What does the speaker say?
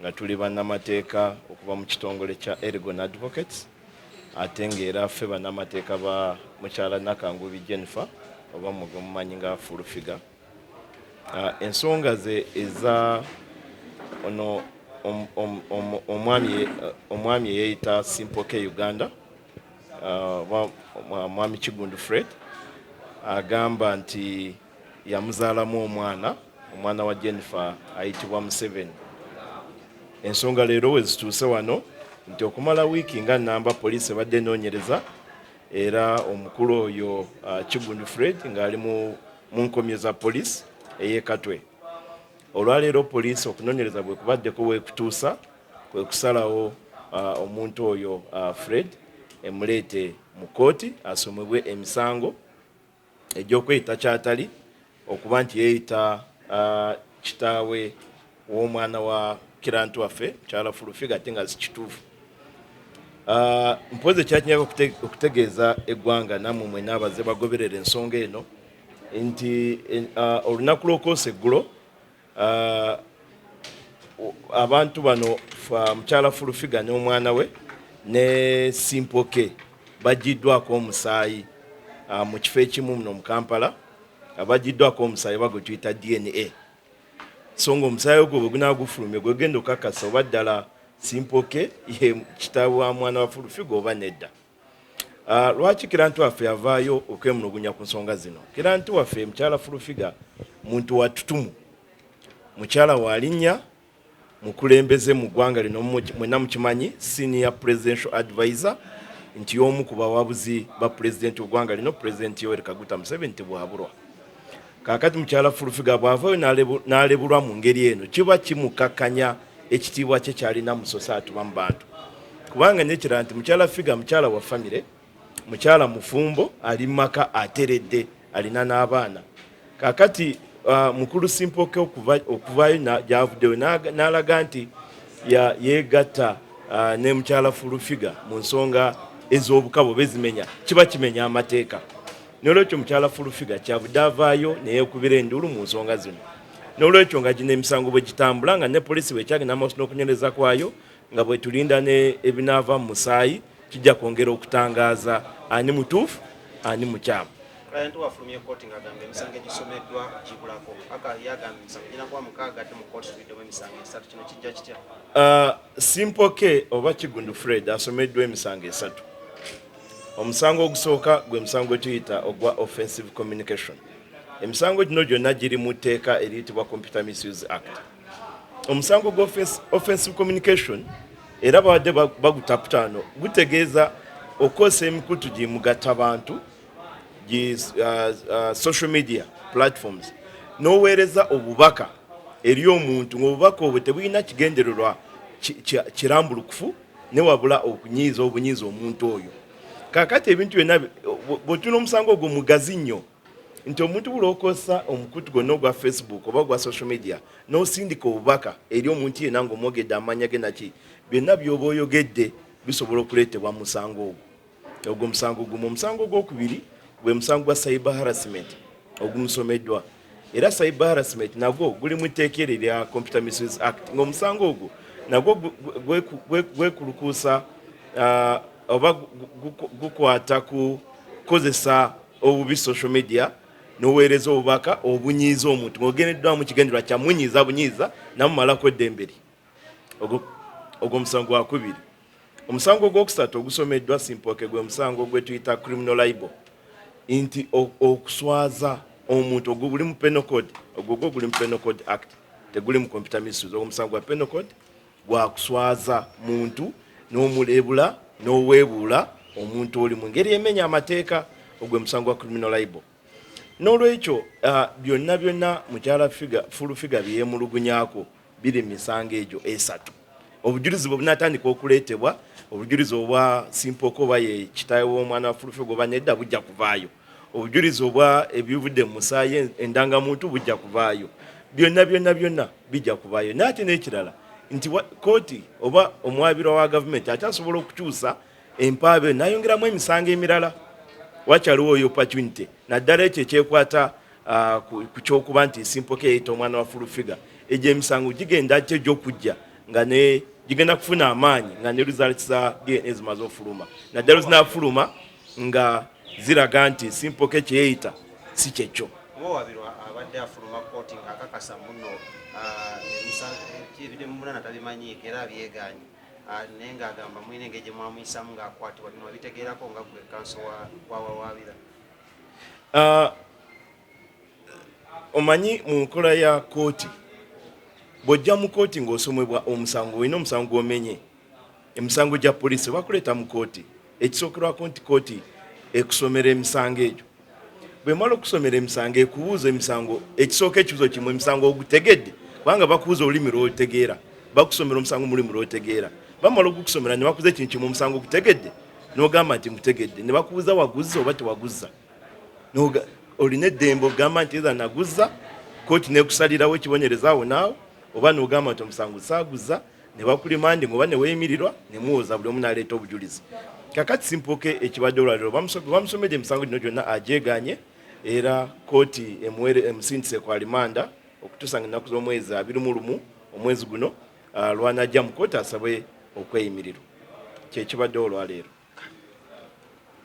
nga tuli bannamateeka okuva mu kitongole kya Ergon Advocates ate ng'era ffe bannamateeka ba mukyala Nakangubi Jennifer oba mwe mumanyi nga fulufiga ah, ensonga ze eza ono omwami eyeeyita Simple K Uganda ah, mwami Kigundu Fred agamba nti yamuzaalamu omwana omwana wa Jennifer ayitibwa Museveni. Ensonga leero we zituuse wano nti okumala wiiki nga nnamba poliisi ebadde enoonyereza era omukulu oyo uh, Kigundu Fred ng'ali mu nkomyo za poliisi ey'e Katwe. Olwaleero poliisi okunoonyereza bwe kubaddeko weekutuusa kwe kusalawo uh, omuntu oyo uh, Fred emuleete mu kkooti asomebwe emisango egy'okweyita ky'atali, okuba nti yeeyita kitaawe w'omwana wa kirantu waffe mukyala fulufiga ate nga zikituufu ah, mpozi ekyakinyaka okutegeeza eggwanga namwe mwena abaze bagoberera ensonga eno nti ah, olunaku lwokoosa eggulo Uh, abantu bano mukyala fulufiga n'omwana we ne simpoke bajiddwako omusaayi uh, mu kifo ekimu muno mu kampala uh, bajiddwako omusaayi oba gwe tuyita dna so nga omusaayi ogwo bwe gunaba gufulumye gwegenda okakasa oba ddala simpoke ye kitaawe wa mwana wa fulufiga oba nedda Ah, lwaki kiranti waffe avaayo okwemulugunya ku nsonga zino kiranti waffe mukyala fulufiga muntu watutumu mukyala walinnya mukulembeze mu ggwanga lino mwena mukimanyi senior presidential advisor nti y'omu ku bawabuzi ba pulezidenti w'eggwanga lino pulezidenti yoweri kaguta museveni tebwaburwa kakati mukyala fulufiga bwavayo nalebulwa mu ngeri eno kiba kimukakanya ekitiibwa kye kyalina musosa atuba mu bantu kubanga nekira nti mukyala figa mukyala wa famire mukyala mufumbo ali mumaka ateredde alina n'abaana kakati uh, mukulu simpoke okuvayo gyavuddeyo n'alaga nti yegatta uh, ne mukyala fulufiga mu nsonga ez'obukabo bezimenya kiba kimenya amateeka N'olwekyo mukyala Fulufiga kyavudde avaayo ne yeekubira enduulu mu nsonga zino. N'olwekyo nga gino emisango bwe gitambula nga ne poliisi bw'ekyagenda amaaso n'okunywereza kwayo nga bwe tulinda n'ebinaava mu musaayi kijja kwongera okutangaaza ani mutuufu ani mukyamu. Client wafulumye kkooti ng'agamba emisango egisomeddwa gibulako. Aka yagamba emisango girina kuba mukaaga ate mu kkooti tubiddemu emisango esatu. Kino kijja kitya? Uh, Simple K oba Kigundu Fred asomeddwa emisango esatu. omusango ogusooka gwe musango gwe tuyita ogwa offensive communication emisango gino gyonna giri mu tteeka eriyitibwa computer misuse act omusango gwa offensive communication era babadde bagutaputaano gutegeeza okukozesa emikutu gi mugatta bantu gi uh, uh, social media platforms n'oweereza obubaka eri omuntu ng'obubaka obwo tebulina kigendererwa kirambulukufu ne wabula okunyiiza obunyiiza omuntu oyo kakati ebintu byonna bwotuna omusango ogwo mugazi nnyo nti omuntu bulokosa omukutu gwonna ogwa facebook oba ogwa social media nosindika obubaka eri omuntu yena nga omwogedde amanya ge naki byonna byoba oyogedde bisobola okuleetebwa musango ogwo ogwo musango gumu omusango ogwokubiri gwe musango gwa cyber harassment ogumusomeddwa era cyber harassment nagwo guli mu tteeka eryo erya computer misuse act ngaomusango ogwo nagwo gwekulukuusa uh, oba gukwata ku kukozesa obubi social media noweereza obubaka obunyiiza omuntu ngaogendeddwamu kigenderwa kyamunyiiza bunyiiza namumalako eddemberi ogwo musango gwakubiri Omusango ogwokusatu ogusomeddwa Simpooke gwe musango gwe tuyita criminal libel nti okuswaza omuntu ogwo guli mu penal code ogwo gwo guli mu penal code act teguli mu computer misuse ogwo musango gwa penal code gwa kuswaza muntu n'omuleebula n'oweebuula omuntu oli mu ngeri emenya amateeka ogwe musango gwa criminal libel N'olwekyo ah, byonna byonna mukyala fulufiga byeyemulugunyako biri mu misango egyo esatu. Obujulizi bwe bunatandika okuleetebwa, obujulizi obwa Simpoka oba ye kitaawe w'omwana wa fulufiga oba nedda bujja kuvaayo. Obujulizi obwa ebivudde mu musaayi endangamuntu bujja kuvaayo. Byonna byonna byonna bijja kuvaayo. Naye ate n'ekirala nti kooti oba omwabirwa wa gavumenti akyasobola okukyusa empaaba eno nayongeramu emisango emirala wakyaliwo oyo opportunity naddala ekyo ekyekwata ah, ku kyokuba nti simpoka eyita omwana wa fulufiga egyo emisango gigenda ky egyokujja nga ne gigenda kufuna amaanyi nga ne results za dna zimaze ofuluma naddala zinafuluma nga ziraga nti simpoka ekyeyita si kyekyo ah, Ah, naye ng'agamba mulina engeri gye mwamuyisamu ng'akwatibwa bino wabitegeerako nga gwe kanso wawawaabira ah, omanyi mu nkola ya kooti bw'ojja mu kooti ng'osomebwa omusango olina omusango gw'omenye emisango gya poliisi bakuleeta mu kooti Ekisookerwako nti kkooti ekusomera emisango egyo. Bwemala okusomera emisango ekubuuza emisango ekisooka ekibuzo kimu emisango ogutegedde kubanga bakubuuza olulimi lwotegeera bakusomera omusango mulimi lwotegeera bamala ogukusomera ne bakuza ekintu kimu omusango ogutegedde nogamba nti mutegedde ne bakubuuza waguzza oba tewaguzza olina eddembe ogamba nti eza naguzza kooti nekusalirawo ekibonyereza awo naawo oba nogamba nti omusango saaguzza ne bakulimandinga oba ne weeyimirirwa ne muwoza buli omu n'aleeta obujulizi kakati simpuke ekibadde olwaliro bamusomedde emisango gino gyonna agyeganye era kooti emuwere emusindise ku alimanda okutuusa nga ennaku z'omwezi abiri mu lumu omwezi guno ah, lwanajja mu kooti asabwe okweyimirirwa kyekibadde olwaleero